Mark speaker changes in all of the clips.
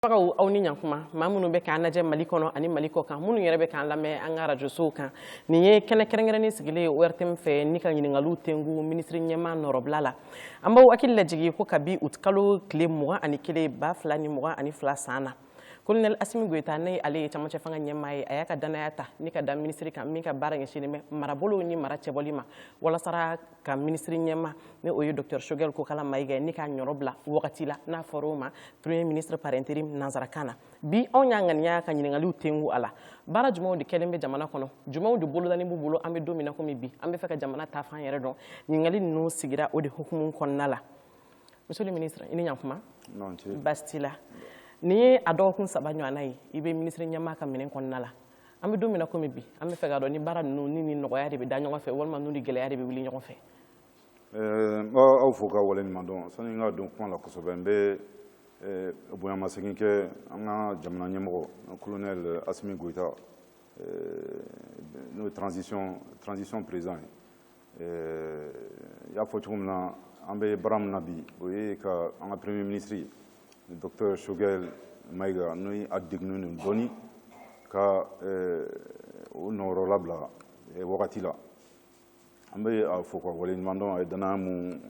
Speaker 1: Bagaw aw ni ɲakuma maa minnu bɛ k'an lajɛ mali kɔnɔ ani mali kɔ kan minnu yɛrɛ bɛ k'an lamɛn an ka rajosow kan nin ye kɛnɛ kɛrɛnkɛrɛnnen sigilen ye ORTM fɛ ni ka ɲininkaliw tengu minisiri ɲɛmaa nɔrɔbila la an b'aw hakili lajigi ko kabi août kalo tile mugan ani kelen ba fila ni mugan ani fila san na kolonɛli asimi goyita n'ale ye camancɛ fanga ɲɛmaa ye a y'a ka dannaya ta ni k'a da minisiri kan min ka baara ɲɛsinnen bɛ marabolow ni mara cɛbɔli ma walasara ka minisiri ɲɛmaa ni o ye docteur Choguel Kokala Mayiga ye ni k'a nɔrɔ bila wagati la n'a fɔra o ma premier ministre par intérim nanzarakan na bi anw y'a ŋaniya ka ɲininkaliw tengu a la baara jumɛnw de kɛlen bɛ jamana kɔnɔ jumɛnw de bolodalen b'u bolo an bɛ don min na komi bi an b'a fɛ ka jamana taafan yɛrɛ dɔn ɲininkali ninnu sigira o de hukumu kɔnɔna la monsieur le ministre i ni ɲantuma baasi t'i la nin ye a dɔgɔkun saba ɲɔgɔnna ye i bɛ minisiri ɲɛmaa ka minɛn kɔnɔna la an bɛ don min na komi bi an b'a fɛ k'a dɔn ni baara ninnu ni ni nɔgɔya de bɛ da ɲɔgɔn fɛ walima n'u ni gɛlɛya de bɛ wuli ɲɔgɔn fɛ eh,
Speaker 2: n b'aw fo ka wale ɲuman dɔn sani n ka don kuma la kosɛbɛ n bɛ eh, bonyamasegin kɛ an ka jamana ɲɛmɔgɔ colonel asimi goyita eh, n'o ye transition président ye i y'a fɔ cogo min na an bɛ baara min na bi o ye ka an ka premier ministre docteur choguel mayiga ni a degunnen don dɔɔni ka o nɔrɔ labila wagati la an bɛ a fo ka wale ɲuman dɔn a ye dannaya mun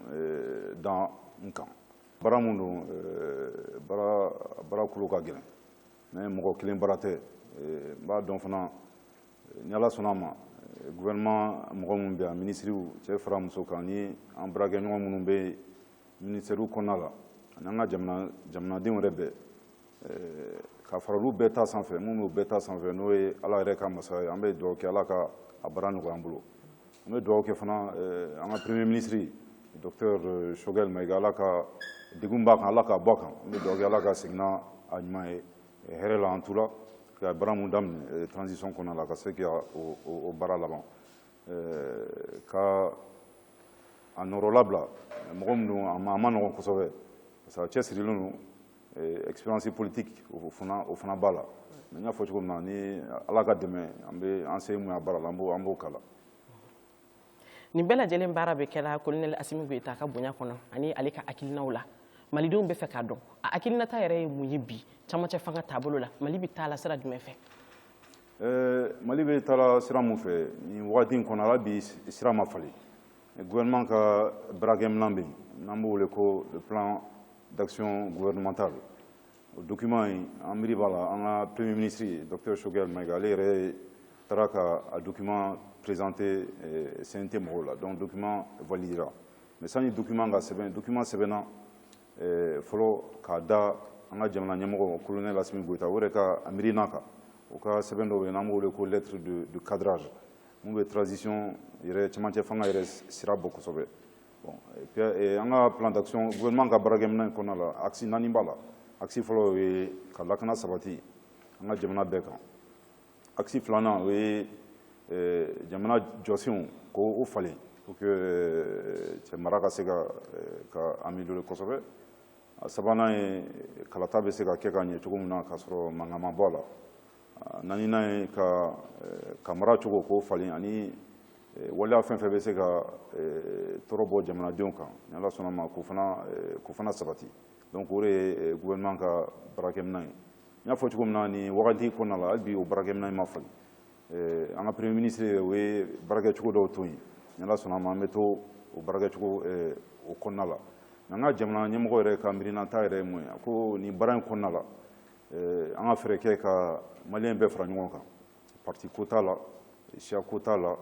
Speaker 2: da n kan baara mun don baara kolo ka gɛlɛn mais mɔgɔ kelen baara tɛ n b'a dɔn fana ni ala sɔnna a ma gouvernement mɔgɔ minnu bɛ yan minisiriw cɛ fara muso kan ni an baarakɛɲɔgɔn minnu bɛ minisitɛriw kɔnɔna la ani an ka jamanadenw yɛrɛ bɛɛ eh, ka fara olu bɛɛ ta sanfɛ mun bɛ bɛɛ ta sanfɛ n'o ye ala yɛrɛ ka masaya ye an bɛ dugawu kɛ ala ka a baara nɔgɔya an bolo an bɛ dugawu kɛ fana eh, an ka premier minisiri docteur eh, choguel mayiga ala ka degun b'a kan ala k'a bɔ a kan an bɛ dugawu kɛ ala ka segin n'a ɲuman ye hɛrɛ la an tora ka baara mun daminɛ transition kɔnɔna la ka se ka o baara laban ka a nɔrɔ labila mɔgɔ min don a man nɔgɔn kosɛbɛ parce que a cɛsirilen don expérience politique o fana o fana b'a la mais n y'a fɔ cogo min na ni ala ka dɛmɛ an bɛ an se mun y'a baara la an b'o k'a la
Speaker 1: nin bɛɛ lajɛlen baara bɛ kɛ la kolonɛli asimi goyita ka bonya kɔnɔ ani ale ka hakilinaw la malidenw b'a fɛ k'a dɔn a hakilinata yɛrɛ ye mun ye bi camancɛ fanga taabolo la mali bɛ taa la sira jumɛn fɛ eh, mali bɛ taa
Speaker 2: la sira mun fɛ nin wagati in kɔnɔ hali bi sira ma falen gouvernement ka baarakɛminɛn bɛ yen n'an b'o wele ko le plan d'action gouvernemental o document in an miiri b'a la an ka premier ministre docteur Choguel Maïga ale yɛrɛ taara ka a document présenter eh, CNT mɔgɔw la donc document validera mais sani document ka sɛbɛn document sɛbɛnna eh, fɔlɔ k'a da an ka jamana ɲɛmɔgɔ colonel Assimi Goïta o yɛrɛ ka a miirina kan o ka sɛbɛn dɔ bɛ yen n'an b'o wele ko lettre de de cadrage mun bɛ transition yɛrɛ cɛmancɛ fanga yɛrɛ sira bɔ kosɛbɛ an ka plan d'action gouvernement ka baarakɛminɛn kɔnɔna la axe naani b'a la axe fɔlɔ o ye ka lakana sabati an ka jamana bɛɛ kan axe filanan o ye eh, jamana jɔsenw k'o falen pour que eh, cɛ mara ka se ka eh, ka améliorer kosɛbɛ a sabanan ye kalata bɛ se ka kɛ ka ɲɛ cogo min na k'a sɔrɔ mankan ma bɔ a la Naaninan ye ka ka mara cogo k'o falen ani waleya fɛn fɛn bɛ se ka tɔɔrɔ bɔ jamanadenw kan ni ala sɔnna ma k'o fana sabati donc o ye gouvernement ka baarakɛminɛn ye n y'a fɔ cogo min na nin wagati kɔnɔna la hali bi o baarakɛminɛn ma falen an ka premier ministre o ye baarakɛcogo dɔw to yen ni ala sɔnna ma an bɛ to o baarakɛcogo o kɔnɔna la nka an ka jamana ɲɛmɔgɔ yɛrɛ ka miirinata yɛrɛ ye mun ye ko nin baara in kɔnɔna la eh, an ka fɛɛrɛ kɛ ka maliyɛn bɛɛ fara ɲɔgɔn kan parti ko t'a la siya ko t'a la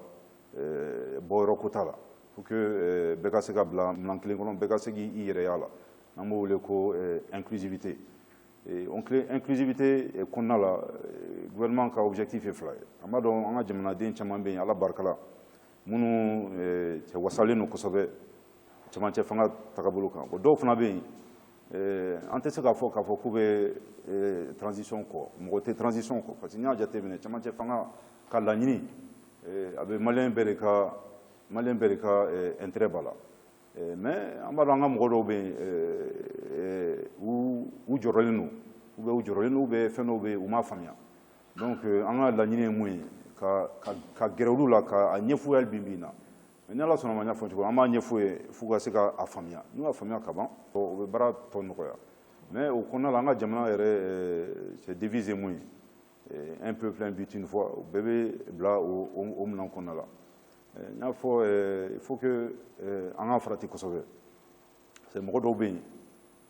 Speaker 2: eh, bɔyɔrɔ ko t'a la pour que eh, bɛɛ ka se ka bila minan kelen kɔnɔ bɛɛ ka se k'i yɛrɛ y'a la n'an b'o wele ko inclusivité inclusivité kɔnɔna la gouvernement ka objectif ye fila ye an b'a dɔn an ka jamanaden caman bɛ yen ala barika la minnu cɛ wasalen don kosɛbɛ cɛmancɛ fanga tagabolo kan o dɔw fana bɛ yen an tɛ se k'a fɔ k'a fɔ k'u bɛ transition kɔ mɔgɔ tɛ transition kɔ parce que n'i y'a jateminɛ camancɛ fanga ka laɲini a bɛ maliyɛn bɛɛ de ka intérêt b'a la mais an b'a dɔn an ka mɔgɔ dɔw bɛ yen u jɔrɔlen don u bɛ u jɔrɔlen don u bɛ fɛn dɔw bɛ yen u m'a faamuya donc an ka laɲini ye mun ye ka gɛrɛ olu la k'a ɲɛfɔ u ye hali bi bi in na ni ala sɔnna ma n y'a fɔ cogo an b'a ɲɛfɔ u ye f'u ka se k'a faamuya n'u y'a faamuya ka ban o bɛ baara tɔ nɔgɔya mais o kɔnɔna la an ka jamana yɛrɛ eh, c'est devise mun ye eh, un peuple un but une foi o bɛɛ bɛ bila o minɛn kɔnɔna la eh, n y'a fɔ il faut que an ka farati kosɛbɛ parce que mɔgɔ dɔw bɛ yen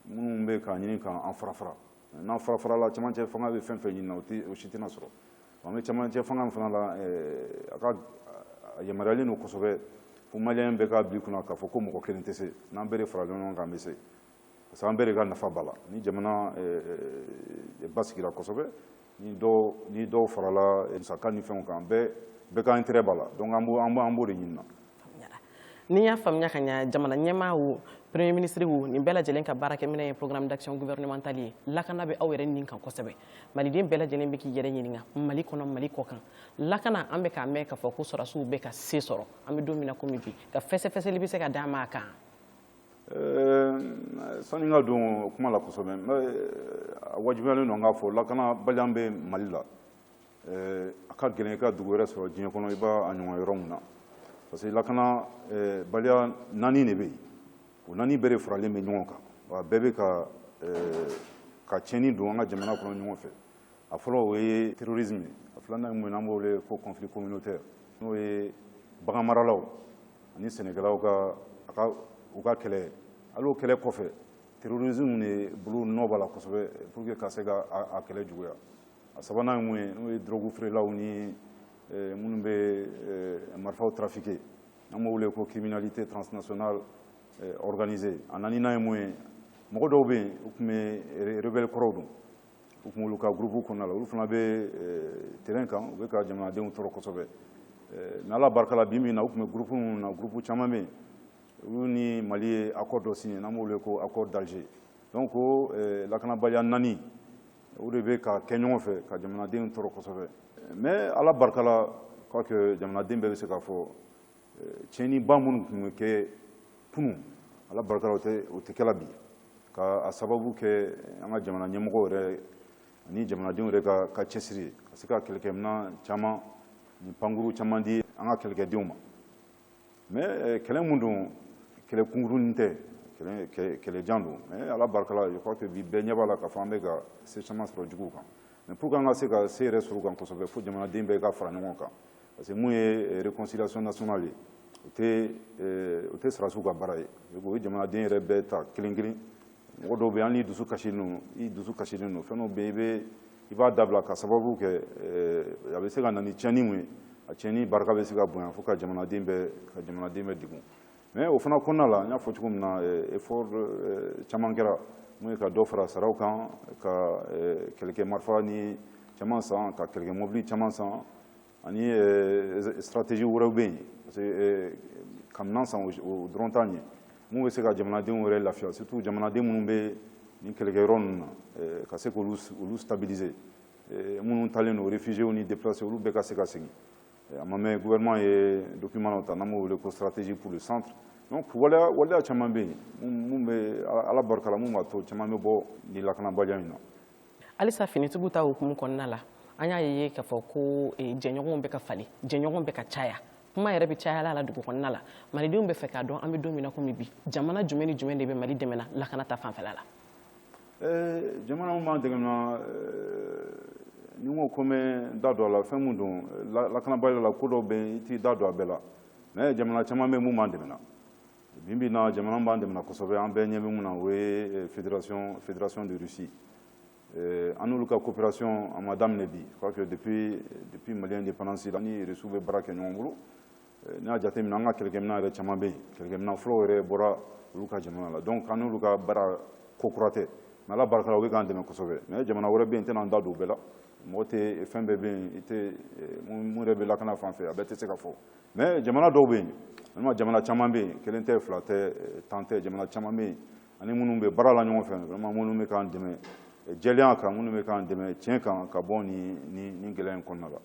Speaker 2: minnu bɛ k'a ɲini k'an fara fara n'an fara farala cɛmancɛ fanga bɛ fɛn fɛn ɲini na o si tɛna sɔrɔ an bɛ cɛmancɛ fanga fana la eh, a ka a yamaruyalen don kosɛbɛ fo maliyɛn bɛɛ k'a bila i kun na k'a fɔ ko mɔgɔ kelen tɛ se n'an bɛɛ de farala ɲɔgɔn kan an bɛ se parce que an bɛɛ de ka nafa b'a la ni jamana eh, eh, basigira kosɛbɛ ni dɔw ni dɔw farala musaka ni fɛnw kan bɛɛ bɛɛ ka intérêt b'a la donc an b'o an b'o an b'o de ɲini na N'i
Speaker 1: y'a faamuya ka ɲa, jamana ɲɛmaa wo, Premier ministre wo, nin bɛɛ lajɛlen ka baarakɛminɛn ye Programme d'action gouvernementale ye. Lakana bɛ aw yɛrɛ nin kan kosɛbɛ. Maliden bɛɛ lajɛlen bɛ k'i yɛrɛ ɲininka, Mali kɔnɔ, Mali kɔkan, lakana an bɛ k'a mɛn k'a fɔ ko sɔrasiw bɛ ka se sɔrɔ, an bɛ don min na komi bi, ka fɛsɛfɛsɛli bɛ se ka d'an ma a kan?
Speaker 2: sani n ka don kuma la kosɛbɛ a wajibiyalen don n k'a fɔ lakanabaliya bɛ mali la a ka gɛlɛn i ka dugu wɛrɛ sɔrɔ diɲɛ kɔnɔ i b'a a ɲɔgɔn yɔrɔ min na parce que lakanabaliya naani de bɛ yen o naani bɛɛ de faralen bɛ ɲɔgɔn kan wa bɛɛ bɛ ka ka tiɲɛni don an ka jamana kɔnɔ ɲɔgɔn fɛ a fɔlɔ o ye terrorisme ye a filanan ye mun ye n'an b'o wele ko conflit communautaire n'o ye baganmaralaw ani sɛnɛkɛlaw ka a ka u ka kɛlɛ hali o kɛlɛ kɔfɛ terrorisme de bolonɔ b'a la kosɛbɛ pour que ka se ka a kɛlɛ juguya a sabanan ye mun ye n'o ye drogue feerelaw ni eh, minnu bɛ eh, marifaw trafiquer n'an b'o wele ko criminalité transnationale eh, organisée a naaninan ye mun ye mɔgɔ dɔw bɛ yen u tun bɛ rebelle kɔrɔw don u tun b'olu ka gurupu kɔnɔna la olu fana bɛ eh, terrain kan u bɛ ka jamanadenw tɔɔrɔ kosɛbɛ mais ala barika la bi min na u tun bɛ gurupu minnu na gurupu caman bɛ yen olu ni mali ye accord dɔ signé n'an b'o wele ko accord d'Alger donc o eh, lakanabaliya naani o de bɛ ka kɛ ɲɔgɔn fɛ ka jamanadenw tɔɔrɔ kosɛbɛ mais ala barika la quoique jamanaden bɛɛ bɛ se k'a fɔ tiɲɛniba minnu tun bɛ kɛ kunun ala barika la o tɛ kɛla bi ka a sababu kɛ an ka jamana ɲɛmɔgɔ yɛrɛ ani jamanadenw yɛrɛ ka ka cɛsiri ye ka se ka kɛlɛkɛminɛn caman ni pankurun caman di an ka kɛlɛkɛdenw ma mais kɛlɛ mun don kɛlɛ kunkurunnin tɛ kɛlɛjan don mais ala barika la je crois que bi bɛɛ ɲɛ b'a la k'a fɔ an bɛ ka se caman sɔrɔ juguw kan mais pour que an ka se ka se yɛrɛ sɔrɔ u kan kosɛbɛ fo jamanaden bɛɛ ka fara ɲɔgɔn kan parce que mun ye réconciliation nationale ye o tɛ o tɛ sɔrɔdasiw ka baara ye o ye jamanaden yɛrɛ bɛɛ ta kelen kelen mɔgɔ dɔw bɛ yen hali n'i dusu kasilen don i dusu kasilen don fɛn dɔw bɛ yen i bɛ i b'a dabila ka sababu kɛ a bɛ se ka na ni tiɲɛni mun ye a tiɲɛni barika bɛ se ka bonya fo ka jamanaden bɛɛ ka jamanaden bɛɛ degun mais o fana kɔnɔna la n y'a fɔ cogo min na effort caman kɛra mun ye ka dɔ fara saraw kan ka kɛlɛkɛ marifa ni caman san ka kɛlɛkɛ mɔbili caman san ani eh, stratégie wɛrɛw bɛ yen parce que eh, ka minan san o dɔrɔn t'a ɲɛ mun bɛ se ka jamanadenw yɛrɛ lafiya surtout jamanaden minnu bɛ nin kɛlɛkɛyɔrɔ ninnu na eh, ka se k'olu olu stabiliser minnu taalen don réfugiés ni déplacés olu bɛɛ ka se ka segin a ma mɛɛn gouvernement ye document dɔ ta n'an b'o wele ko stratégie pour le centre donc waleya waleya caman bɛ yen mun bɛ ala barika la mun b'a to caman bɛ bɔ nin lakanabaliya in na
Speaker 1: halisa finitigiw ta hukumu kɔnɔna la an y'a ye k'a fɔ ko eh, jɛɲɔgɔnw bɛ ka falen jɛɲɔgɔn bɛ ka caya kuma yɛrɛ bɛ cayala la dugu kɔnɔna la malidenw bɛ fɛ k'a dɔn an bɛ don min na komi bi jamana jumɛn ni jumɛn de bɛ mali dɛmɛna lakana ta fanfɛla la eh, jamana
Speaker 2: min b'an dɛmɛna eh, ni n ko ko n bɛ da don a la fɛn min don lakanabaliya la ko dɔw bɛ yen i t'i da don a bɛɛ la mais jamana caman bɛ yen min b'an dɛmɛna Bi bi in na jamana min b'an dɛmɛna kosɛbɛ an bɛɛ ɲɛ bɛ min na o ye fédération fédération de Russie ɛɛ an n'olu ka coopération a ma daminɛ bi je crois que depuis depuis Mali indépendance la ni Russie bɛ baara kɛ ɲɔgɔn bolo n'i y'a jate minɛ an ka kɛlɛkɛminɛn yɛrɛ caman bɛ yen kɛlɛkɛminɛn fɔlɔw yɛrɛ bɔra olu ka jamana la donc an n'olu ka baara ko kura tɛ mais Ala barika la u bɛ k'an dɛmɛ kosɛbɛ mais jamana wɛrɛ bɛ yen n tɛna n da don o bɛɛ la mɔgɔ tɛ fɛn bɛɛ bɛ yen i tɛ mun yɛrɛ bɛ lakana fan fɛ a bɛɛ tɛ se ka fɔ mais jamana dɔw bɛ yen vraiment jamana caman bɛ yen kelen tɛ fila tɛ tan tɛ jamana caman bɛ yen an ni minnu bɛ baara la ɲɔgɔn fɛ vraiment minnu bɛ k'an dɛmɛ jɛlenya kan minnu bɛ k'an dɛmɛ tiɲɛ kan ka bɔ nin gɛlɛya in kɔnɔna la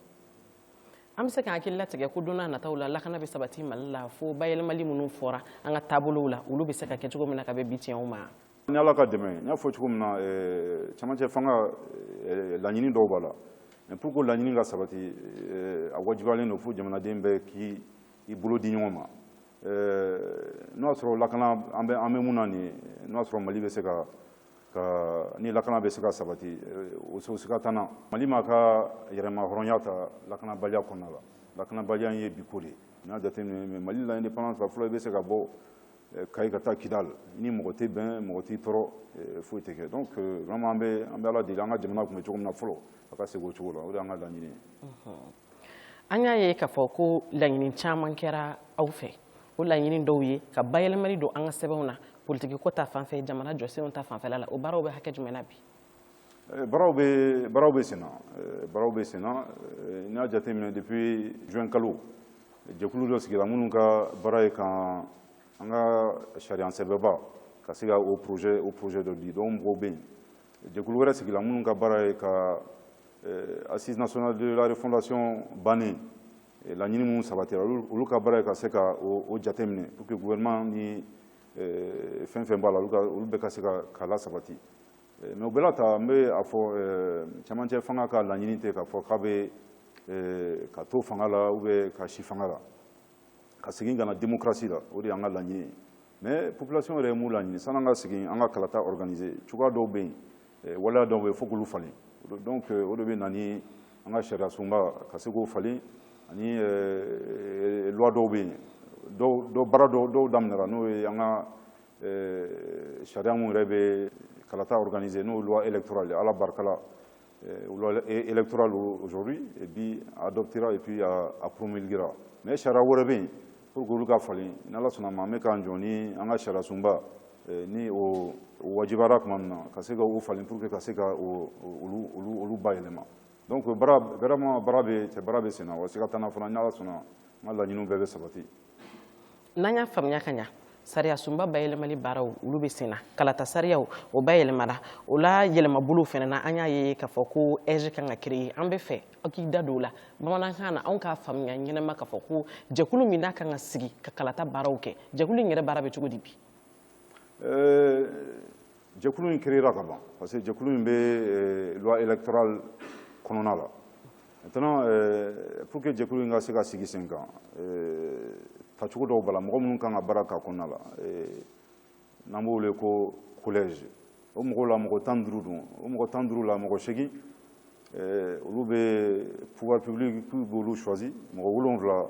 Speaker 1: an bɛ se k'an hakili latigɛ ko don nataw la lakana bɛ sabati mali la fo bayɛlɛmali minnu fɔra an ka taabolow la olu bɛ se ka kɛ cogo min na ka bɛn bi tiɲɛw ma Ni ala ka
Speaker 2: dɛmɛ n y'a fɔ cogo min na camancɛ fanga laɲini dɔw b'a la mais pour que laɲini ka sabati a wajibiyalen don fo jamanaden bɛɛ k'i bolo di ɲɔgɔn ma n'o y'a sɔrɔ lak an bɛ an bɛ mun na nin n'o y'a sɔrɔ mali bɛ se ka ni lakana bɛ se ka sabati o o sika t'an na mali ma ka yɛrɛma hɔrɔnya ta lakanabaliya kɔnɔna la lakanabaliya ye bi ko de ye n'a jateminɛ mali la indépendance fɔlɔ i bɛ se ka bɔ eh, kayi ka taa kidal ni mɔgɔ tɛ bɛn mɔgɔ t'i tɔɔrɔ eh, foyi tɛ kɛ donc eh, vraiment an bɛ an bɛ ala deli an ka jamana tun bɛ cogo min na fɔlɔ a ka segin o cogo la o de y'an ka laɲini ye
Speaker 1: an y'a ye k'a fɔ ko laɲini caman kɛra aw fɛ o laɲini dɔw ye ka bayɛlɛmali don an ka sɛbɛnw na politikiko ta fanfɛ jamana jɔsenw ta fanfɛla la o baaraw bɛ hakɛ jumɛn na bi Eh,
Speaker 2: baaraw bɛ baaraw bɛ senna eh, baaraw bɛ senna eh, n'a jateminɛ depuis juin kalo jɛkulu dɔ sigira minnu ka baara ye ka an ka sariya sɛbɛnba ka se ka o projet o projet dɔ di donc mɔgɔw bɛ yen jɛkulu wɛrɛ sigila minnu ka baara ye ka assise nationale de la refondation bannen laɲini minnu sabatira olu ka baara ye ka se ka o jateminɛ pour que gouvernement ni fɛn fɛn b'a la olu bɛɛ ka se ka k'a lasabati Eh, mais o bɛɛ la ta n bɛ a fɔ eh, camancɛ fanga ka laɲini tɛ k'a fɔ k'a bɛ eh, ka to fanga la ou bien ka si fanga la ka segin ka na démocratie la o de y'an ka laɲini ye mais population yɛrɛ ye mun laɲini sani an ka segin an ka kalata organiser cogoya dɔw bɛ yen waleya dɔw bɛ yen fo k'olu falen donc o de bɛ na ni an ka sariya sunba ka se k'o falen ani loi dɔw bɛ yen dɔw dɔw baara dɔw dɔw daminɛra n'o ye an ka Ee, sariya mun yɛrɛ bɛ kalata organiser n'o loi électorale ala barika la ee, loi électorale aujourd'hui a adoptera et puis a, a promulguera mais sariya wɛrɛ bɛ yen pour que olu ka falen n'ala sɔnna ma an bɛ k'an jɔ ni an ka sariya sunba ee, ni o wajibara tuma min na ka se ka o falen pour que ka se ka olu olu olu bayɛlɛma donc baara vraiment baara bɛ se baara bɛ senna wa siga t'an na fana n'ala sɔnna an ka laɲiniw bɛɛ bɛ sabati
Speaker 1: n'an y'a faamuya ka ɲa sariyasunba bayɛlɛmali baaraw olu bɛ sen na kalata sariyaw o bayɛlɛmara o la yɛlɛmabolow fana na an y'a ye k'a fɔ ko AIGE kan ka créer an bɛ fɛ aw k'i da don o la bamanankan na anw k'a faamuya ɲɛnama k'a fɔ ko jɛkulu min n'a kan ka sigi ka kalata baaraw kɛ jɛkulu in yɛrɛ baara bɛ cogo di bi
Speaker 2: jɛkulu in créera ka ban parce que jɛkulu in bɛ euh, loi électorale kɔnɔna la maintenant euh, pour que jɛkulu in ka se ka sigi sen kan euh, tacogo dɔw b'a la mɔgɔ minnu kan ka baara k'a kɔnɔna la n'an b'o wele ko collège o mɔgɔw la mɔgɔ tan duuru don o mɔgɔ tan duuru la mɔgɔ segin olu bɛ pouvoir public b'olu choisi mɔgɔ wolonwula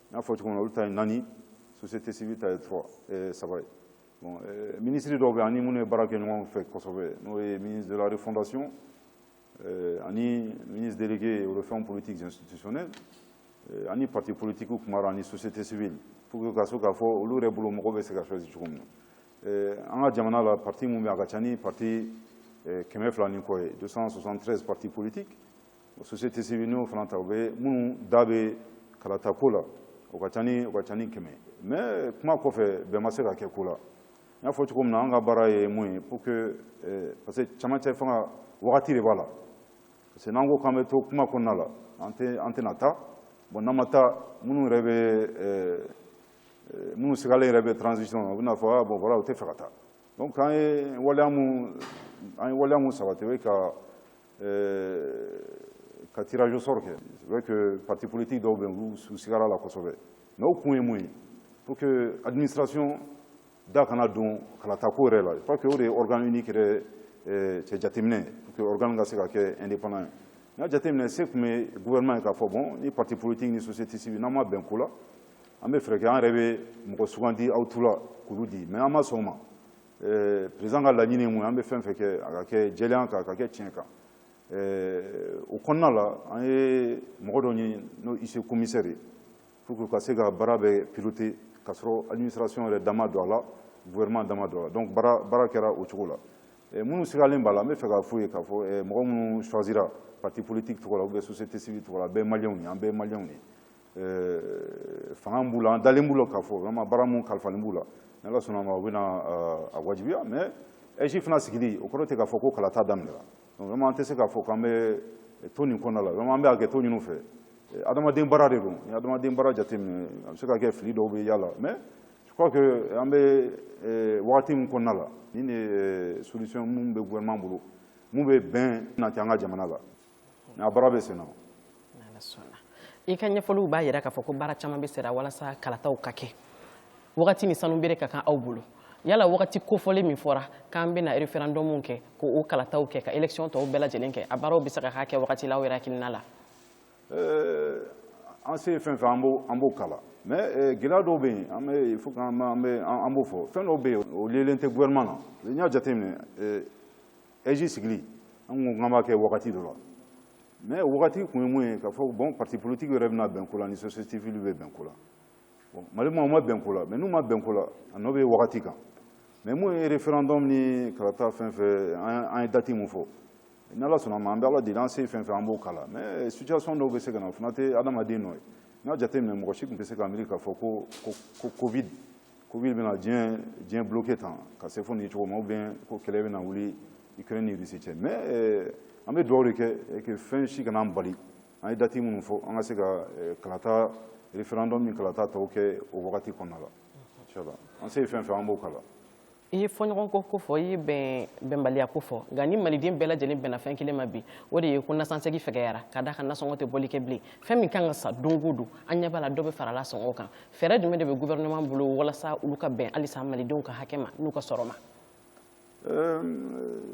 Speaker 2: N y'a fɔ cogo min na olu ta ye naani société civile ta ye eh, saba ye bon eh, minisiri dɔw bɛ an ni minnu ye baara kɛ ɲɔgɔn fɛ kosɛbɛ n'o ye ministre de la refondation eh, ani ministre délégué aux réformes politiques institutionnelles an ni parti politique kumara ani société civile pour que ka se k'a fɔ olu yɛrɛ bolo mɔgɔ bɛ se ka choisi cogo min na an ka jamana la parti mun bɛ a ka ca ni parti kɛmɛ fila ni kɔ ye 273 parti politique société civile n'o fana ta u bɛ minnu da bɛ kalata ko la o ka ca ni o ka ca ni kɛmɛ mais kuma kɔfɛ bɛn ma se ka kɛ ko la n y'a fɔ cogo min na an ka baara ye mun ye pour que eh, parce que camancɛ fanga wagati de b'a la parce que n'an ko k'an bɛ to kuma kɔnɔna la an tɛ an tɛna taa bon n'an ma taa minnu yɛrɛ bɛ eh, eh, minnu sigalen yɛrɛ bɛ transition na u bɛna fɔ ah bon voilà u tɛ fɛ ka taa donc an ye waleya mun an ye waleya mun sabati o ye ka Euh, ka tirage au sort kɛ c'est vrai que parti politique dɔw bɛ yen u sigara a la kosɛbɛ mais o kun ye mun ye pour que administration da kana don kalatako yɛrɛ la je crois que o de ye organe unique yɛrɛ euh, cɛ jateminɛ pour que organe ka se ka kɛ indépendant ye n y'a jateminɛ se tun bɛ gouvernement ye k'a fɔ bon ni parti politique ni société civile n'an ma bɛn ko la an bɛ fɛɛrɛ kɛ an yɛrɛ bɛ mɔgɔ sugandi aw tɔgɔ la k'olu di mais an ma sɔn o ma Eh, président ka laɲini ye mun ye an bɛ fɛn fɛn kɛ a ka kɛ jɛlenya kan a ka kɛ tiɲɛ kan eh, o kɔnɔna la an ye mɔgɔ dɔ ɲini n'o huissier commissaire ye pour que ka se ka baara bɛɛ piloter k'a sɔrɔ administration yɛrɛ da ma don a la gouvernement da ma don a la donc baara kɛra o cogo la eh, minnu sigalen b'a la an bɛ fɛ k'a f'u ye k'a fɔ mɔgɔ minnu choisira parti politique tɔgɔ la ou bien société civile tɔgɔ la bɛɛ maliyɛnw ye an bɛɛ maliyɛnw ye fanga b'u la an dalen b'u la k'a fɔ vraiment baara mun kalifalen b'u la ni ala sɔnna ma u bɛna a wajibiya mais AIGE fana sigili o kɔrɔ tɛ k'a fɔ ko kalata daminɛra donc vraiment an tɛ se k'a fɔ k'an bɛ to nin kɔnɔna la vraiment an bɛ hakɛto ɲin'u fɛ adamaden baara de don ni adamaden baara jateminɛ a bɛ se ka kɛ fili dɔw bɛ y'a la mais je crois que an bɛ wagati min kɔnɔna la ni de solution mun bɛ gouvernement bolo mun bɛ bɛn nati an ka jamana la a baara bɛ
Speaker 1: sen na i ka ɲɛfɔliw b'a jira k'a fɔ ko baara caman bɛ sera walasa kalataw ka kɛ wagati ni sanu bɛrɛ ka kan aw bolo yala wagati kofɔlen min fɔra k'an bɛna référendum kɛ k'o kalataw kɛ ka élection tɔw bɛɛ lajɛlen kɛ a baaraw bɛ se ka k'a kɛ wagati la aw yɛrɛ hakilina la
Speaker 2: eh, an se fɛn fɛn an b'o k'a la mais eh, gɛlɛya dɔw bɛ yen an bɛ il faut k'an b'o fɔ fɛn dɔw bɛ yen o liyelen tɛ gouvernement na n'i y'a jateminɛ eh, AIGE sigili an ko k'an b'a kɛ wagati dɔ la mais wagati kun ye mun ye k'a fɔ bon parti politique yɛrɛ bɛna bɛn ko la ni société civile bɛ bɛn ko la mali maaw ma bɛn ko la mais n'u ma bɛn ko la a nɔ bɛ wagati kan mais mun ye référendum ni kalata fɛn fɛn an ye dati mun fɔ n'ala sɔnna ma an bɛ ala deli an se fɛn fɛn an b'o k'a la mais situation dɔw bɛ se ka na o fana tɛ adamaden nɔ ye n'i y'a jateminɛ mɔgɔ si tun tɛ se ka miiri k'a fɔ ko covid Covid bɛna diɲɛ diɲɛ bloqué tan ka se fo nin cogo ma ou bien ko kɛlɛ bɛna wuli Ukraine ni Russie cɛ mais euh, an bɛ dugawu de kɛ euh, que fɛn si kana an bali an ye dati minnu fɔ an ka se ka euh, kalata référendum ni kalata tɔw kɛ o wagati kɔnɔna la inchallah an se ye fɛn fɛn an b'o k'a la i ye
Speaker 1: fɔɲɔgɔnkɔ ko fɔ i ye bɛn bɛnbaliya ko fɔ nka ni maliden bɛɛ lajɛlen bɛnna fɛn kelen ma bi o de ye ko nasansegi fɛgɛyara ka d'a kan nasɔngɔ tɛ bɔli kɛ bilen fɛn min kan ka san don o don an ɲɛ b'a la dɔ bɛ farala sɔngɔ kan fɛɛrɛ jumɛn de bɛ gouvernement bolo walasa olu ka bɛn halisa malidenw ka hakɛ ma n'u ka sɔrɔ
Speaker 2: ma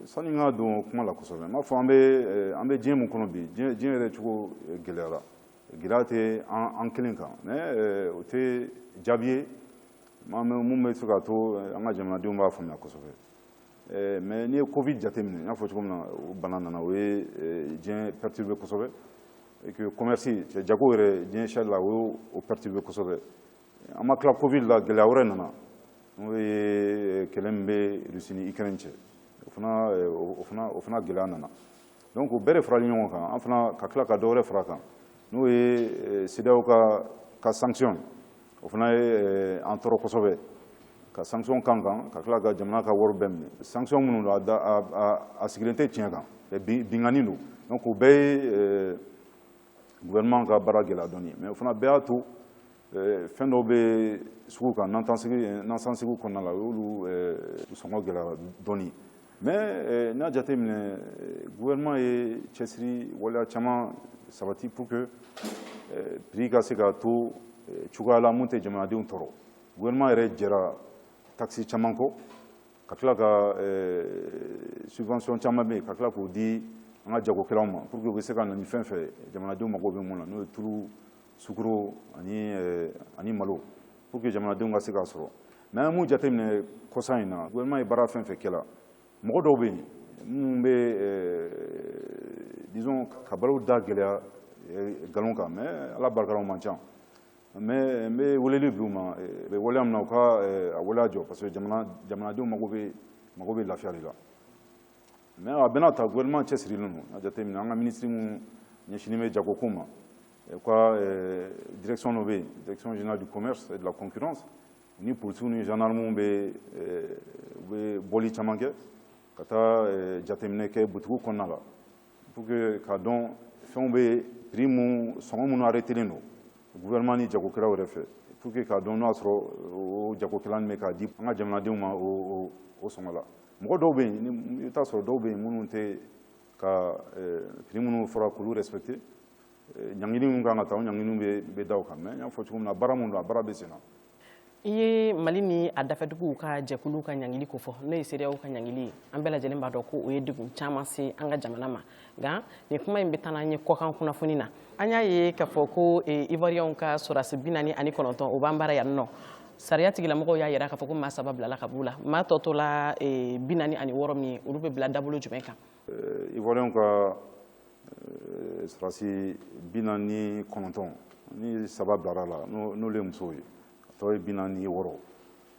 Speaker 2: sani n ka don kuma la kosɛbɛ n b'a fɔ an bɛ an bɛ diɲɛ min kɔnɔ bi diɲɛ yɛrɛ cogo gɛlɛyara gɛlɛya tɛ an kelen kan mais o tɛ jaabi ye mun bɛ se k'a to eh, an ka jamanadenw b'a faamuya kosɛbɛ eh, mais n'i ye covid jateminɛ n y'a fɔ cogo min na o bana nana o ye eh, diɲɛ perturbé kosɛbɛ et que commerce jago yɛrɛ diɲɛ sari la o y'o perturbé kosɛbɛ an ma tila covid la gɛlɛya wɛrɛ nana n'o ye kɛlɛ min bɛ Russie ni Ukraine cɛ o fana o fana o fana gɛlɛya nana donc o bɛɛ de farali ɲɔgɔn kan an fana ka tila ka dɔ wɛrɛ fara a kan n'o ye CEDEAO ka sanction o fana ye an tɔɔrɔ kosɛbɛ ka sanction k'an kan ka tila ka jamana ka wari bɛɛ minɛ sanction minnu don a sigilen tɛ tiɲɛ kan binkanni don donc o bɛɛ ye gouvernement ka baara gɛlɛya dɔɔni mais o fana bɛɛ y'a to fɛn dɔw bɛ sugu kan nasansegiw kɔnɔna la o y'olu sɔngɔ gɛlɛya dɔɔni Mais eh, n'a jate minɛ eh, gouvernement ye cɛsiri waleya caman sabati pour que eh, prix ka se ka to cogoya la mun tɛ jamanadenw tɔɔrɔ gouvernement yɛrɛ jɛra taxe caman kɔ ka tila ka subvention caman bɛ yen ka tila k'o di an ka jagokɛlaw ma pour que u bɛ se ka na ni fɛn fɛn jamanadenw mago bɛ mun na n'o ye tulu sukoro ani eh, ani malo pour que jamanadenw ka se k'a sɔrɔ mais an ye mun jateminɛ kɔsa in na gouvernement ye baara fɛn fɛn kɛla mɔgɔ dɔw bɛ yen minnu bɛ eh, disons ka balow da gɛlɛya eh, nkalon kan mais ala barika la u man ca mais n bɛ weleli bila u ma u bɛ waleya min na u ka a waleya jɔ parce que jamanadenw mago bɛ mago bɛ lafiya de la mais a bɛna ta gouvernement cɛsirilen don a jate minɛ an ka minisiri minnu ɲɛsinin bɛ jagoko ma u ka direction dɔ bɛ yen direction générale du commerce et de la concurrence u ni polisiw ni gendarmew bɛ u bɛ bɔli caman kɛ ka taa jateminɛ kɛ butigiw kɔnɔna la pour que k'a dɔn fɛnw bɛ prix mun sɔngɔ minnu arrêtelen don gouvernement ni jagokɛlaw yɛrɛ fɛ pour que k'a dɔn n'o y'a sɔrɔ o jagokɛla nin bɛ k'a di an ka jamanadenw ma o sɔngɔ la mɔgɔ dɔw bɛ yen i t'a sɔrɔ dɔw bɛ yen minnu tɛ ka prix eh, minnu fɔra k'olu respecter eh, ɲangini minnu kan ka ta o ɲangini bɛ bɛ da u kan mais n y'a fɔ cogo min na baara minnu don a baara bɛ sen na. i
Speaker 1: ye mali ni a dafɛduguw ka jɛkuluw ka ɲangili ko fɔ n'o ye CEDEAO ka ɲangili ye an bɛɛ lajɛlen b'a dɔn ko o ye degun caman se an ka jamana ma nka nin kuma in bɛ taa n'an ye kɔkan kunnafoni na an y'a ye k'a fɔ ko eh, ivoiriyɛnw ka sɔrɔdasi bi naani ani kɔnɔntɔn o b'an bara yan nɔ sariya tigilamɔgɔw y'a yira k'a fɔ ko maa saba bilala ka b'u la maa tɔ tola eh, bi naani ani wɔɔrɔ min ye olu bɛ bila dabolo jumɛn kan eh, ivoiriyɛnw
Speaker 2: ka sɔrɔdasi bi naani kɔnɔntɔn nin saba bilara la n'olu ye musow ye a tɔ ye bi naani wɔɔrɔ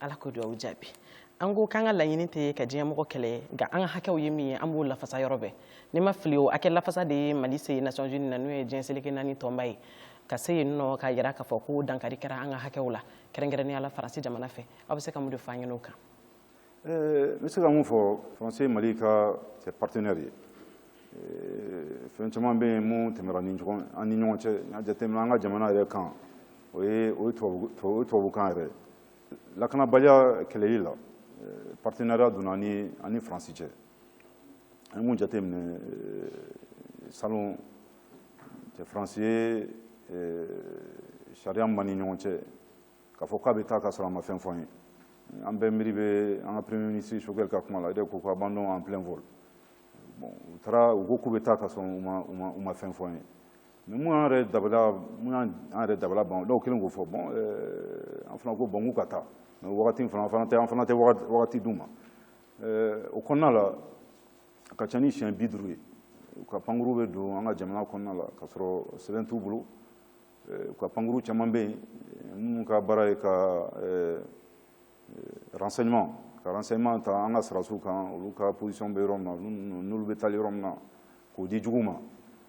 Speaker 2: ala k'o dugawu
Speaker 1: jaabi an ko k'an ka laɲini tɛ ka diɲɛmɔgɔ kɛlɛ nka an ka hakɛw ye min ye an b'o lafasa yɔrɔ bɛɛ ni n ma fili o hakɛ lafasa de ye mali se nations unies na n'o ye diɲɛ seleke naani tɔnba ye ka se yen nɔ k'a jira k'a fɔ ko dankari kɛra an ka hakɛw la kɛrɛnkɛrɛnnenya la faransi jamana fɛ aw bɛ se ka mun de fɔ an ɲɛ na o kan
Speaker 2: eh, n bɛ se ka mun fɔ faransi ye mali ka cɛ partenaire ye eh, fɛn caman bɛ yen mun tɛmɛra an ni ɲɔgɔn cɛ n'i y'a jateminɛ an ka jamana yɛrɛ kan o ye o tubabukan yɛrɛ lakanabaliya kɛlɛli la eh, partenariat donna an ni an ni faransi cɛ an ye mun jateminɛ eh, salon cɛ faransi ye eh, sariya min b'an ni ɲɔgɔn cɛ k'a fɔ k'a bɛ taa ka sɔrɔ a ma fɛn fɔ an ye an bɛɛ miiri bɛ an ka premier ministre choguel ka kuma la o de ko ko abandon en plein vol bon u taara u ko k'u bɛ taa ka sɔrɔ u ma u ma u ma fɛn fɔ an ye Mais mun y'an yɛrɛ dabali mun y'an an yɛrɛ dabali ban dɔw kɛlen k'o fɔ bon an fana ko bon k'u ka taa mais wagati in fana an fana tɛ an fana tɛ wagati d'u ma o kɔnɔna la a ka ca ni siɲɛ bi duuru ye u ka pankuru bɛ don an ka jamana kɔnɔna la k'a sɔrɔ sɛbɛn t'u bolo u ka pankuru caman bɛ yen minnu ka baara ye ka renseignement ka renseignement ta an ka sɔrɔdasiw kan olu ka position bɛ yɔrɔ min na n'olu bɛ taali yɔrɔ min na k'o di jugu ma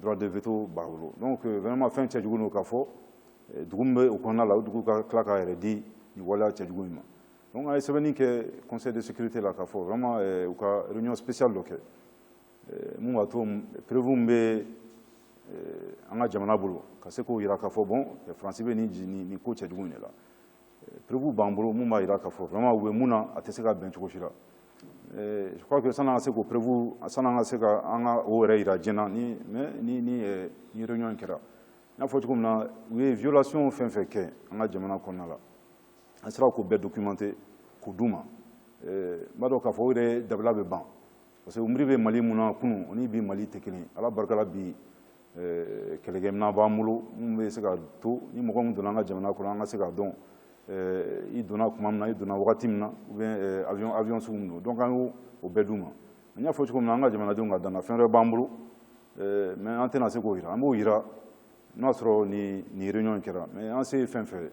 Speaker 2: droit de veto b'a bolo donc euh, vraiment fɛn cɛjugu don k'a fɔ euh, dugu min bɛ o kɔnɔna la o dugu ka tila k'a yɛrɛ di nin waleya cɛjugu in ma donc an ye sɛbɛnni kɛ conseil de sécurité la k'a fɔ vraiment euh, u ka réunion spéciale dɔ kɛ mun b'a to preuve min bɛ an ka jamana bolo ka se k'o jira k'a fɔ bon faransi bɛ nin nin ko cɛjugu in de la Preuve b'an bolo minnu b'a jira k'a fɔ vraiment u bɛ mun na a tɛ se ka bɛn cogo si la je crois que san'an ka se k'o preuve san'an ka se ka an ka o yɛrɛ jira diɲɛ na ni mais ni ni ni réunion in kɛra n y'a fɔ cogo min na u ye violation fɛn fɛn kɛ an ka jamana kɔnɔna la an sera k'o bɛɛ documenter k'o d'u ma n b'a dɔn k'a fɔ o yɛrɛ dabali bɛ ban parce que u miiri bɛ Mali mun na kunun o ni bi Mali tɛ kelen ye Ala barika la bi eh, kɛlɛkɛminɛn b'an bolo minnu bɛ se k'a to ni mɔgɔ min donna an ka jamana kɔnɔ an ka se k'a dɔn eh, i donna tuma min na i donna wagati min na ou bien eh, avion avion sugu min don donc an y'o o bɛɛ d'u ma n y'a fɔ cogo min na an ka jamanadenw ka da an na fɛn wɛrɛ b'an bolo mais an tɛna se k'o jira an b'o jira n'a sɔrɔ ni nin réunion in kɛra mais an se ye fɛn fɛn ye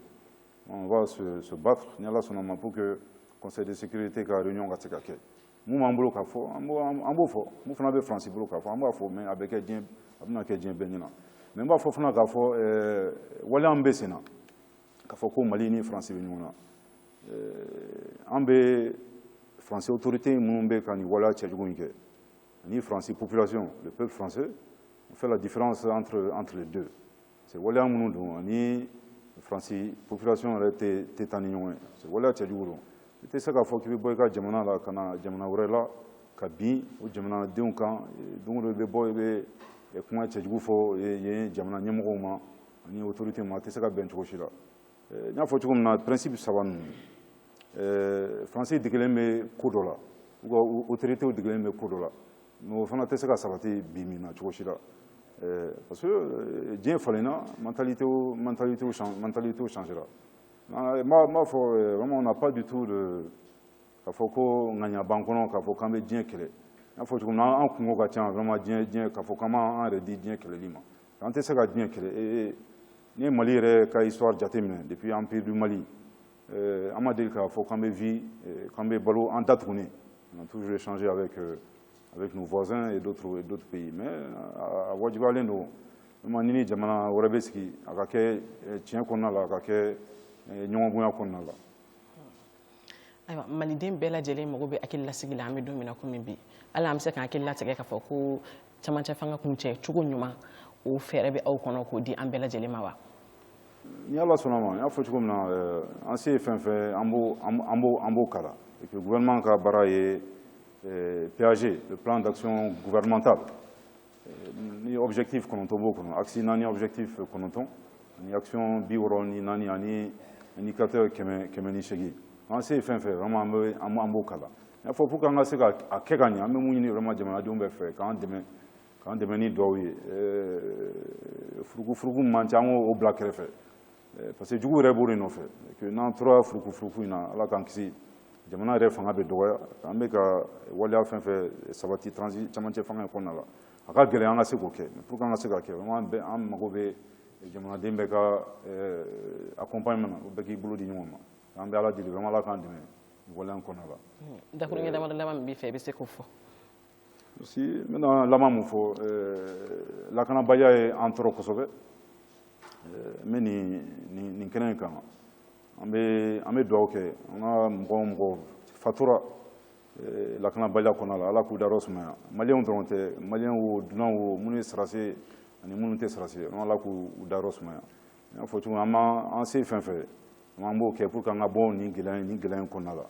Speaker 2: on va se, se battre ni ala sɔnna a ma pour que conseil de sécurité ka réunion ka se ka kɛ mun b'an bolo k'a fɔ an b'o fɔ mun fana bɛ faransi bolo k'a fɔ an b'a fɔ mais a bɛ kɛ diɲɛ a bɛna kɛ diɲɛ bɛɛ ɲɛna mais n b'a fɔ fana k'a fɔ eh, waleya min bɛ sen na k'a fɔ ko mali ni faransi bɛ ɲɔgɔn na eh, an bɛ faransi autorité minnu bɛ ka nin waleya cɛjugu in kɛ ani faransi population le peuple français on fait la différence entre entre les deux C'est waleya minnu don ani faransi population yɛrɛ tɛ taa ni ɲɔgɔn ye c'est waleya cɛjugu don i tɛ se k'a fɔ k'i bɛ bɔ i ka jamana la ka na jamana wɛrɛ la ka bin o jamanadenw kan don o don i bɛ bɔ i bɛ kuma cɛjugu fɔ yen jamana ɲɛmɔgɔw ma ani autorité ma a tɛ se ka bɛn cogo si la eh, n y'a fɔ cogo min na principe saba ninnu eh, faransi degelen bɛ ko dɔ la u ka autoritéw degelen bɛ ko dɔ la Mais o fana tɛ se ka sabati bi min na cogo si la ɛɛ parce que euh, diɲɛ falenna mentalité mentalité mentalitéw changera n b'a fɔ euh, vraiment on n'a pas du tout de k'a fɔ ko ŋaniya b'an kɔnɔ k'a fɔ k'an bɛ diɲɛ kɛlɛ n y'a fɔ cogo min na an kunko ka ca vraiment diɲɛ diɲɛ k'a fɔ k'an b'an yɛrɛ di diɲɛ kɛlɛli ma an tɛ se ka diɲɛ kɛlɛ ee n'i ye mali yɛrɛ ka histoire jateminɛ depuis empire du mali Euh, an ma deli k'a fɔ k'an bɛ vie euh, k'an bɛ balo an datugunen on a toujours échangé avec euh, avec nos voisins et d'autres et d'autres pays mais a wajibiyalen don vraiment n'i ni jamana wɛrɛ bɛ sigi a ka kɛ tiɲɛ kɔnɔna la a ka kɛ ɲɔgɔn bonya kɔnɔna
Speaker 1: la ayiwa maliden bɛɛ lajɛlen mago bɛ hakililasigi la an bɛ don min na komi bi yala an bɛ se k'an hakili latigɛ k'a fɔ ko camancɛ fanga kuncɛ cogo ɲuman o fɛɛrɛ bɛ aw kɔnɔ k'o di an bɛɛ lajɛlen ma wa ni
Speaker 2: ala sɔnna ma n y'a fɔ cogo min na eh, an se ye fɛn fɛn an b'o an b'o an b'o kala et puis gouvernement ka baara ye eh, PAG le plan d'action gouvernemental eh, ni objectif kɔnɔntɔn b'o kɔnɔ axe naani objectif kɔnɔntɔn ni action bi wɔɔrɔ ni naani ani indicateur kɛmɛ kɛmɛ ni seegin an se ye fɛn fɛn vraiment an bɛ an b'o kala n y'a fɔ pour que an ka se ka a kɛ ka ɲɛ an bɛ mun ɲini vraiment jamanadenw bɛɛ fɛ k'an dɛmɛ k'an dɛmɛ ni dugawu ye furukufuruku man ca an k'o bila kɛrɛfɛ parce que jugu yɛrɛ b'o de nɔfɛ n'an tora furukufuruku in na ala k'an kisi jamana yɛrɛ fanga bɛ dɔgɔya an bɛ ka waleya fɛn fɛn sabati transi camancɛ fanga in kɔnɔna la a ka gɛlɛn an ka se k'o kɛ pour que an ka se ka kɛ an mago bɛ jamanaden bɛɛ ka accompagnement na bɛɛ k'i bolo di ɲɔgɔn ma an bɛ ala deli vraiment ala k'an dɛmɛ nin waleya in kɔnɔna la dakurunɲɛ damadɔ laban
Speaker 1: min b'i fɛ i bɛ se k'o fɔ Merci.
Speaker 2: N bɛna laban mun fɔ eh, lakanabaliya ye an tɔɔrɔ kosɛbɛ eh, n bɛ nin kɛnɛ in kan an bɛ dugawu kɛ an ka mɔgɔ o mɔgɔ fatura eh, lakanabaliya kɔnɔna la ala k'u dayɔrɔ sumaya maliyɛnw dɔrɔn tɛ maliyɛn wo dunan wo minnu ye sarase ani minnu tɛ sarase ala k'u dayɔrɔ sumaya n y'a fɔ cogo min an b'an se fɛn fɛn an b'o kɛ pour que an ka bɔ nin gɛlɛya in kɔnɔna la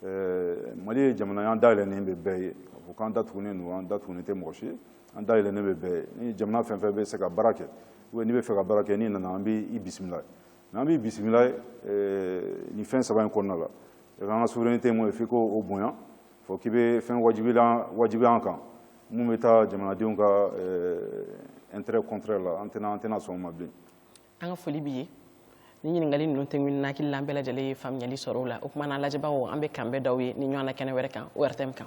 Speaker 2: eh, mali ye jamana ye an dayɛlɛnen bɛ bɛɛ ye k'a fɔ k'an datugunen don an datugunen tɛ mɔgɔ si ye an dayɛlɛnen bɛ bɛɛ ye ni jamana fɛn fɛn bɛ se ka baara kɛ ou bien n'i bɛ fɛ ka baara kɛ n'i nana an b'i bisimila ye mais an b'i bisimila ye eh, nin fɛn saba in kɔnɔna la e ka an ka souveraineté ye mun ye f'i k'o bonya fɔ k'i bɛ fɛn wajibilan wajibiya an kan mun bɛ taa jamanadenw ka eh, intérêt contraire la an tɛna an tɛna sɔn o ma bilen an ka foli
Speaker 1: b'i ye ni ɲininkali ninnu tɛmɛnen n hakili la an bɛɛ lajɛlen ye faamuyali sɔrɔ o la o kuma na an lajɛbagaw an bɛ k'an bɛn d'aw ye nin ɲɔgɔnna kɛnɛ wɛrɛ kan ORTM kan